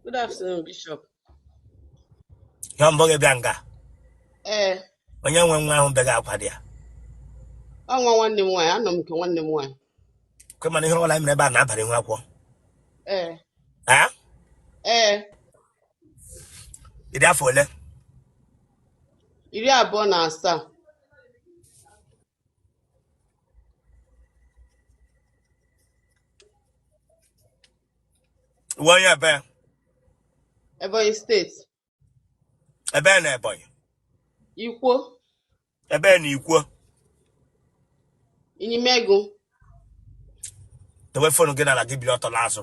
Good afternoon, Bishop. Ya mbụ gị bịa nga. Ee. Eh. Onye nwe nwa ahụ begha akwa dị ya. Ọ nwa nwanne m nwaanyị, anọ m nke nwanne m nwaanyị. Kwe m na ihe ọbụla mere ebe a nabara n'okwukwe. Ee. Ha? Ee. Ị dị afọ ole? Iri abụọ na asaa. Wụ onye ebee? Ebonyi State. Ebee na Ebonyi? Ikwo. Ebee na Ikwo? Inyimegu. Dowe fonu gị n'ala gị biri ọtọ n'azụ.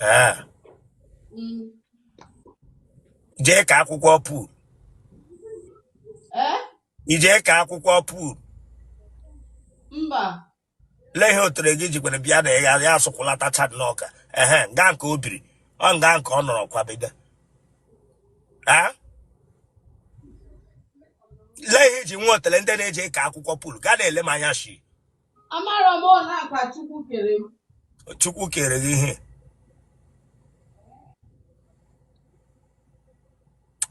Ah. Mm. i ji aka akwụkwọ pool Eh? i ji aka akwụkwọ pool Mba. lee ihe otele gị jikwere bịa na ya ya asụkwụlata cha n'ọka ehe nga nke o biri ọ nga nke ọ nọrọ kwabiga Ah? lee ihe i ji nwee otele ndị na-eji aka akwụkwọ pool gaa na-ele m anya shi Amara m na ọkwa Chukwu kere m. Chukwu kere gị ihe.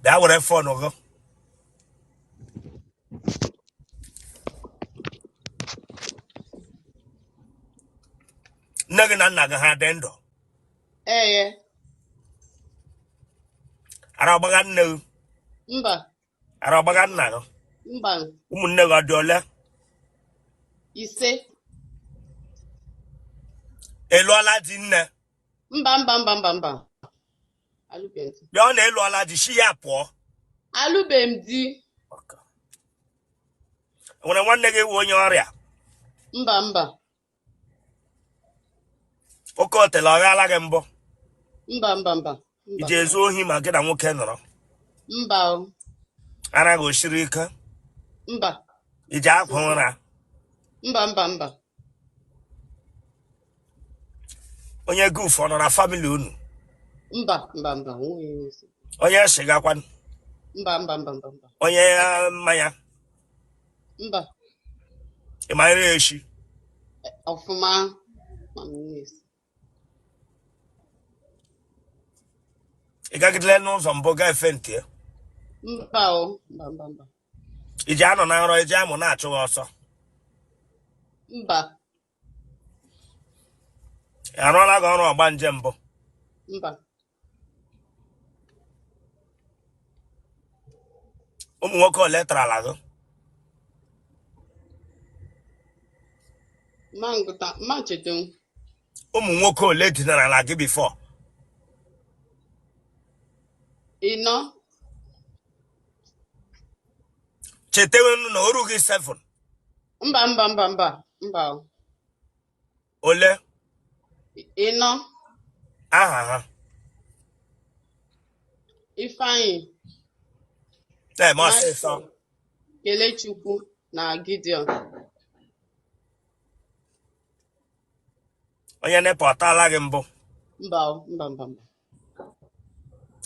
Bịa were fon gị. Nne gị na nna gị ha dị ndụ. Ee. Ara ọ gbagha nne gị. Mba. ara ọ gbagha nna gị mba ụmụnne gị ọ dị ole ise ị lụọla di nne mba mba mba mba mba alụbeghị m di abi ọ na ị lụọla di shi ya pụọ alụbeghị m di nwere nwanne gị wụ onye ọrịa mba mba oke otele ọ ghala gị mbụ mba mba mba i ji ezu ohi ma gị na nwoke nọrọ mba ara gị o siri ike mba i ji ekwo ụra mba mba mba onye goof ọ nọ na family unu mba mba mba onye shịga kwanụ mba mba mba mba onye mmanya mba ị ma ire echi ọfụma ma m na-esi ị gagidele n'ụzọ mbụ gaa efe ntị ya mba o mba mba mba i ji anọ na nrọ eji amụ na-achụ gị ọsọ mba arụọla gị ọrụ ọgbanje mbụ ụmụ nwoke ole tarala gị ụmụ nwoke ole dinarala gị before ị nọ chetewenu na o ru gị 7 mba mba mba mba mba o. ole ịnọ aha ha Ifeanyị na-eme ọsịsọ Michael, Kelechukwu na Gideon onye NEPA ọ taala gị mbụ mba o, mba mba mba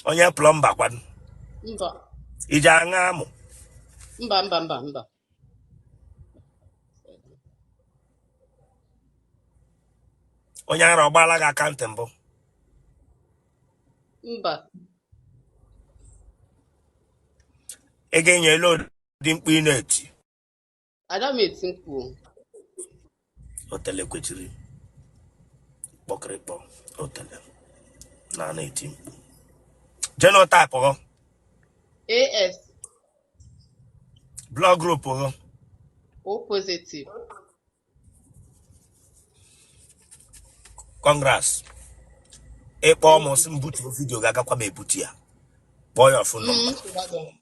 onye plumber kwado mba i ji aṅa amụ mba mba mba mba onye ara ọ gbaala gị aka ntị mbụ mba ị ga-enye ele ụdị mkpu ị na-eti ada m eti mkpu otele kwechiri kpọkịrịkpọ otele na a na-eti mkpu genotype ghọ AS blood group ghọ O positive. congrats ị kpọọ mụ sị m butuo video ga-agakwa m ebutu ya kpọọ your phone number Mm,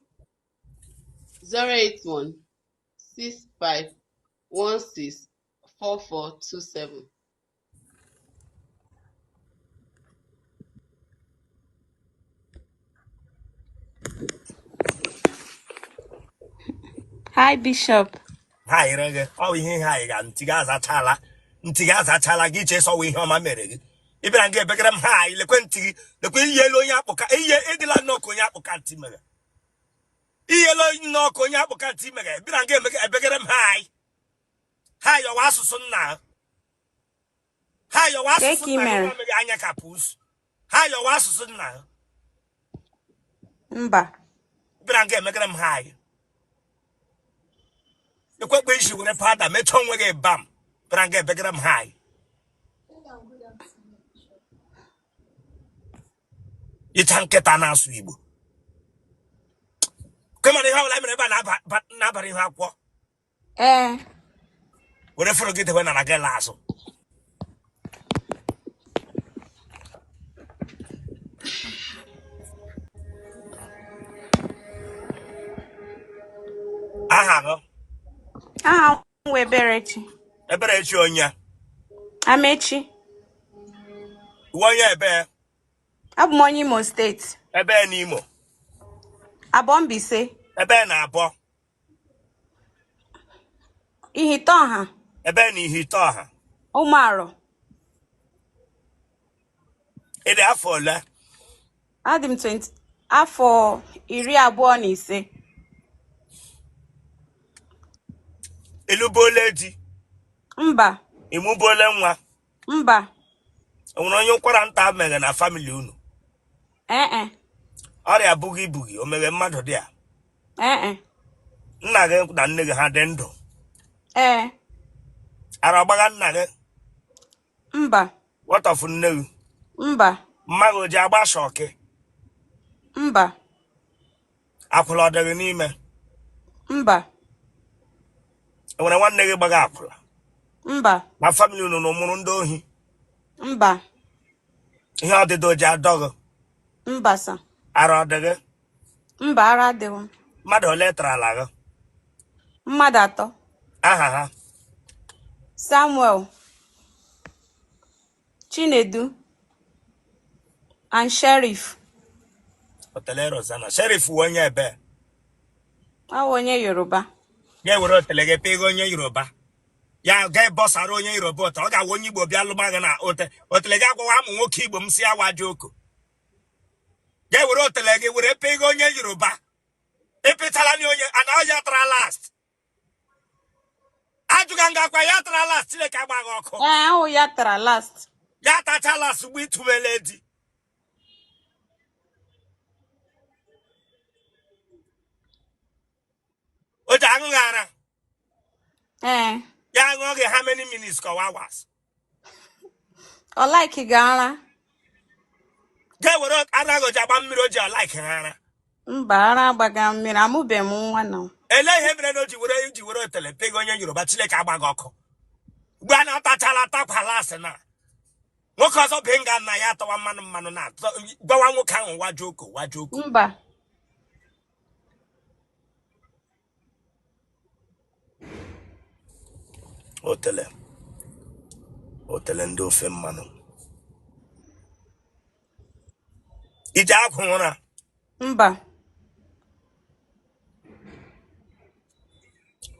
081 65 164427 Hi Bishop. ha yere gị ọ bụ ihe ihe anyị ga ntị gị azachala ntị gị azachala gị iche sọwa ihe ọma mere gị ị bịara nga ebegara m hi lekwe ntị gị lekwe i yiele onye akpụka ihe ị dịla nnọọ ka onye akpụka ntị mere i yiele nnọọ ka onye akpụka ntị mere bịara nga ebegere m hi hi ọ wụ asụsụ nna ha hi ọ wụ asụsụ nna ha mere anya ka pusi hi ọ wụ asụsụ nna ha mba bịara nga ebegere m hi ekwekpe isi were powder mechaa onwe gị bam bịara nga ebegere m hi ịcha nkịta na-asụ Igbo kemana ihe ọbụla mere ebe a na-abara ihe akwụkwọ ee were fọrọ gị dewe nara gị la azụ aha gị aha Nwa Eberechi. Eberechi onye? Amechi. Ị wụ onye ebe? Abụ m onye Imo State. Ebe n'Imo? Abọ Mbaise. Ebe na Abọ? Ihite ọha. Ebe na Ihite ọha? Ụmụarọ. Ị dị afọ ole? adị m 20 afọ iri abụọ na ise ịlụbuola di mba ịmụbuola nwa mba o nwere onye ụkwara nta meghe na famili unu ee e, ọrịa bụghị ibughị o meghe mmadụ dị a ee e, nna gị na nne gị ha dị ndụ ee ara ọ gbagha nna gị mba what of nne gị mba mma gị o ji agba shọkị mba akwụla ọ dị gị n'ime mba enwere nwanne gị gbaga akwụla mba na famili unu unu mụrụ ndị ohi mba ihe ọdịdọ o ji adọ gị mba sa ara ọ dị gị mba ara adịghị m mmadụ ole tara ala gị mmadụ atọ aha ha samuel chinedu and sheriff otele rozana sheriff wụ onye ebe ọ bụ onye yoruba ya were otele gị pịga onye yoruba ya ga bọsara onye yoruba ọtụ ọ ga-awụ onye igbo bịa lụba gị na ote otele gị agwawa amụ nwoke igbo m sị wa joko ya were otele gị were pịga onye yoruba ịpịtala na onye ana ya tara last ajụga nga akwa ya tara last chileke agba gị ọkụ ahụ ya tara last ya tacha last mgbe ịtụbele di o ji aṅụ gị ara ee ya aṅụ oge how many minutes ka ọ wụ hours ọ like gị ara ga were ara ahụ ji agba mmiri o ji ọ like ha ara mba ara agbaga mmiri amụbeghị m nwa na elee ihe mere na o ji were ji were otele pịga onye yoruba chileke agba gị ọkụ mgbe a na-atachala atakwala asị na nwoke ọzọ bụ nga nna ya atawa mmanụ mmanụ na gwawa nwoke ahụ wa joko wa joko mba otele otele ndị ofe mmanụ i ji ekwo ụra mba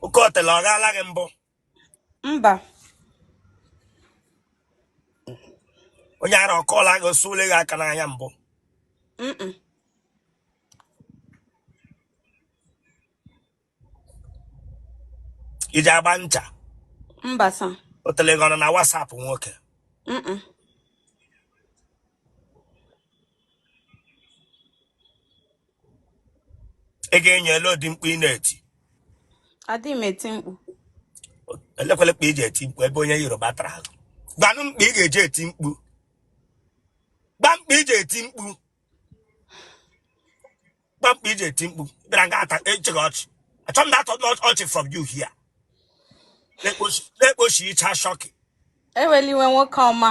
oke otele ọ gaala gị mbụ mba onye ara ọ kọla gị ọ sụọle gị aka n'anya mbụ mm i ji agba ncha mba sa o tele gị ọnụ na WhatsApp nwoke m ị ga-enye ele ụdị mkpu ị na-eti adịghị m eti mkpu elekwele kpa i ji eti mkpu ebe onye Yoruba tara ahụ gwanụ m kpa ị ga-eji eti mkpu gwa m kpa i ji eti mkpu gwa m kpa i ji eti mkpu bịara nga ata achị gị ọchị achọ m na-atọ ọchị from you here na-ekpochi ịcha shọkị eweliwe nwoke ọma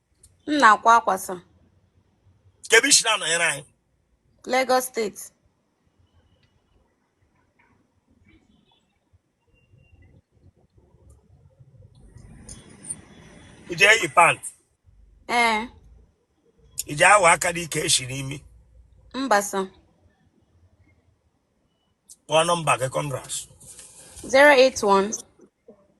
m na-akwa akwa sa kee ebe i si na-anọnyere anyị Lagos State ije eyi pant ee ije awa aka dị ike esi n'imi mba sa kpọọ nọmba gị congrats 081